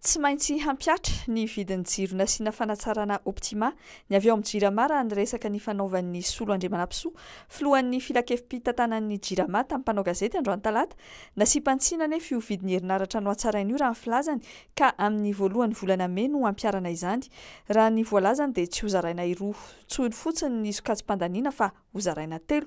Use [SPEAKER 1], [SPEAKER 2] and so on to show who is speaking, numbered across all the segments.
[SPEAKER 1] Tsy maintsy hampihatra ny vidin'ny jiro nasiana fanatsarana Optima ny avy ao amin'ny Jirama raha ny resaka nifanaovan'ny Solo Andriamanampisoa, filohan'ny filankevi-pitantanan'ny Jirama tamin'ny mpanao gazety androany talata. Nasiam-pantsina anefa io vidin'ny herinaratra nohatsaraina io raha ny filazany ka amin'ny voalohan'ny volana mey no hampiharana izany. Raha ny voalazany dia tsy hozaraina roa intsony fotsiny ny sokajim-pandaniana fa hozaraina telo.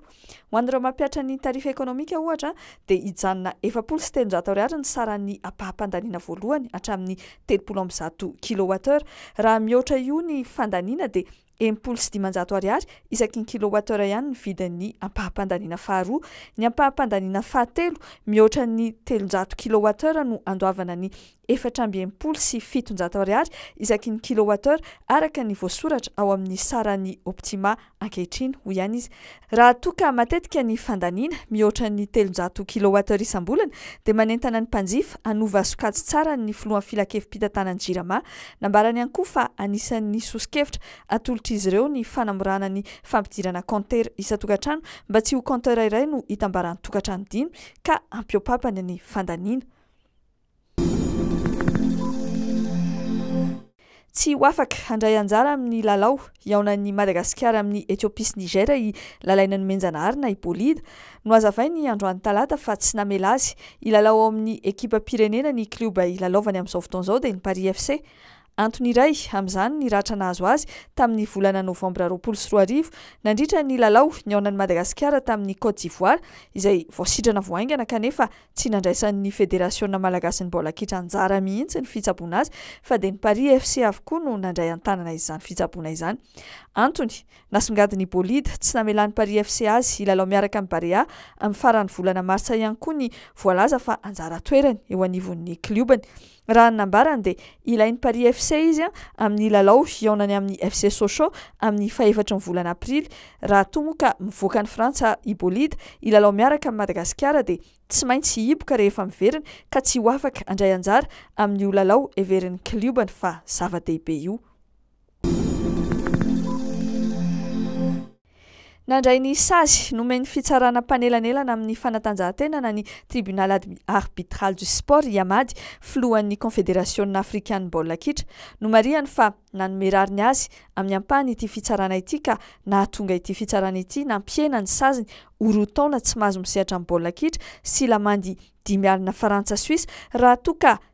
[SPEAKER 1] Ho an'ireo mampihatra ny tarifa ekonomika, ohatra, dia hijanona efapolo sy telonjato ariary ny saran'ny ampaham-pandaniana voalohany hatramin'ny telopolo amby zato kilowattheure. Raha mihoatra io ny fandaniana dia enimpolo sy dimanjato ariary isaky ny kilowattheure ihany ny vidin'ny ampaham-pandaniana faharoa. Ny ampaham-pandaniana fahatelo mihoatra ny telonjato kilowattheure no andoavana ny efatra amby enimpolo sy fitonjato ariary isaky ny kilowattheure araka ny voasoratra ao amin'ny saran'ny Optima ankehitriny, hoy ihany izy. Raha toa ka matetika ny fandaniana, mihoatra ny telonjato kilowattheure isam-bolana, dia manentana ny mpanjifa hanova sokajy tsara ny filohan'ny filankevi-pitantanan'ny Jirama. Nambarany ihany koa fa anisan'ny soso-kevitra atolotr'izy ireo ny fanamorana ny fampidirana kaontera isan-tokantrano mba tsy ho kaontera iray no hitambaran'ny tokantrano dimy ka hampiopapany ny fandaniana. Tsy ho afaka handray anjara amin'ny lalao hihaonan'ny Madagasikara amin'i Ethiopie sy Niger i Lalaina Nomenjanahary na i Bolida. Nohazavainy androany talata fa tsy namela azy hilalao ao amin'ny ekipam-pirenena ny klioba ilalaovany amin'izao fotoana izao dia ny Paris FC. Antony iray amin'izany ny ratra nahazo azy tamin'ny volana novambra roapolo sy roa arivo, nandritra ny lalao nihaonan'i Madagasikara tamin'i Côte d'Ivoire, izay voasitrana vao haingana kanefa tsy nandraisan'ny Federasiona malagasin'ny baolina kitra anjara mihitsy ny fitsaboana azy fa dia ny Paris FC avokoa no nandray an-tanana izany fitsaboana izany. Antony, nasongadin'ny Bolide, tsy namelan'ny Paris FC azy hilalao miaraka amin'ny Barea amin'ny faran'ny volana martsa ihany koa ny voalaza fa anjara toerany eo anivon'ny kliobany. Raha ny nambarany dia ilain'ny Paris FC izy amin'ny lalao hihaonany amin'ny FC Sochaux amin'ny fahefatry ny volana aprily. Raha toa moa ka mivoaka an'i Frantsa i Bolida hilalao miaraka amin'i Madagasikara dia tsy maintsy hihiboka rehefa miverina ka tsy ho afaka handray anjara amin'io lalao heverin'ny kliobany fa zava-dehibe io. Nandray ny sazy nomen'ny fitsarana mpanelanelana amin'ny fanatanjahantena na ny Tribunal Arbitral du Sport i Amady, filohan'ny Konfederasiona afrikan'ny baolina kitra. Nomarihany fa nanome rariny azy amin'ny ampahany ity fitsarana ity ka nahatonga ity fitsarana ity nampihena ny saziny ho roa taona tsy mahazo misehatra amin'ny baolina kitra sy lamandy dimy alina frantsa-suisse raha toa ka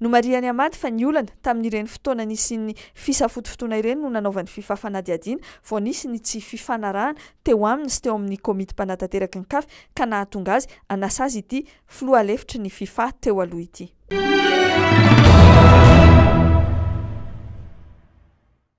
[SPEAKER 1] Nomarihan'i Ahmad fa ny olana, tamin'ireny fotoana nisian'ny fisafotofotoana ireny no nanaovany fifa fanadihadiana vao nisy ny tsy fifanarahana teo aminy sy teo amin'ny komity mpanatanteraka ny Caf ka nahatonga azy hanasazy ity filoha lefitry ny fifa teo aloha ity.